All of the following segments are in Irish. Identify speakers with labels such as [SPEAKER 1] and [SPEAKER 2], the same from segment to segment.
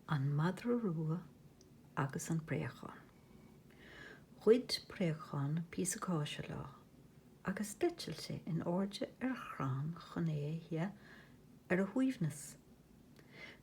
[SPEAKER 1] An Madra Rua agus an Préachán. Ghoid préachán píosa cáise lá agus d'eitil in airde ar chrann chun é a ithe ar a shuaimhneas.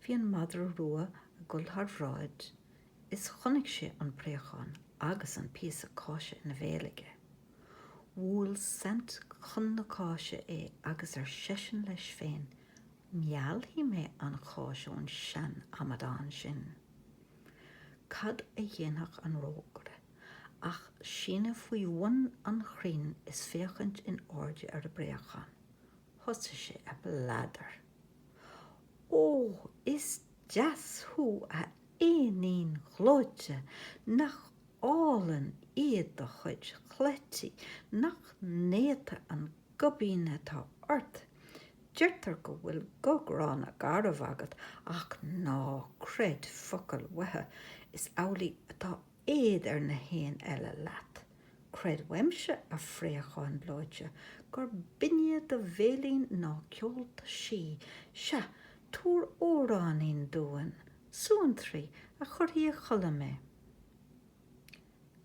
[SPEAKER 1] Bhí an Madra Rua ag dul thar bhráid is chonaic sé an préachán agus an píosa cáise ina bhéal aige. Bhuail saint chun na cáise é agus ar seisean leis féin, Meallfaidh mé an cháis ón seanamadán sin. Cad a dhéanfadh an rógaire ach síneadh faoi bhun an chrainn is féachaint in airde ar a bpréachán. Thosaigh sé ag bladar. Ó, is deas thú, a éinín ghleoite! Nach álainn iad do chuid chleití! Nach néata an goibín atá ort! Deirtear go bhfuil guth gránna garbh agat ach ná creid focal uathu, is amhlaidh atá éad ar na héin eile leat. Creid uaimse, a phréacháin ghleoite, gur binne do bhéilín ná ceolta sí. Sea, tabhair amhráinín dúinn, suantraí, a chuirfidh a chodladh mé.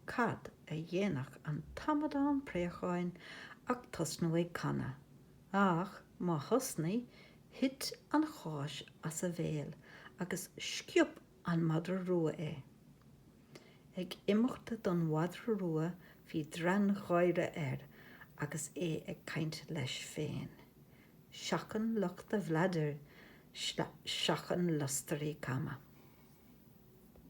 [SPEAKER 1] Cad a dhéanfadh an t-amadán préacháin ach tosnú ag canadh. Ach má thosnaigh, thit an cháis as a bhéal agus sciob an madra rua é. Ag imeacht don mhadra rua bhí draidgháire air agus é ag caint leis féin. Seachain lucht a bhlaidir, seachain lustairí cama.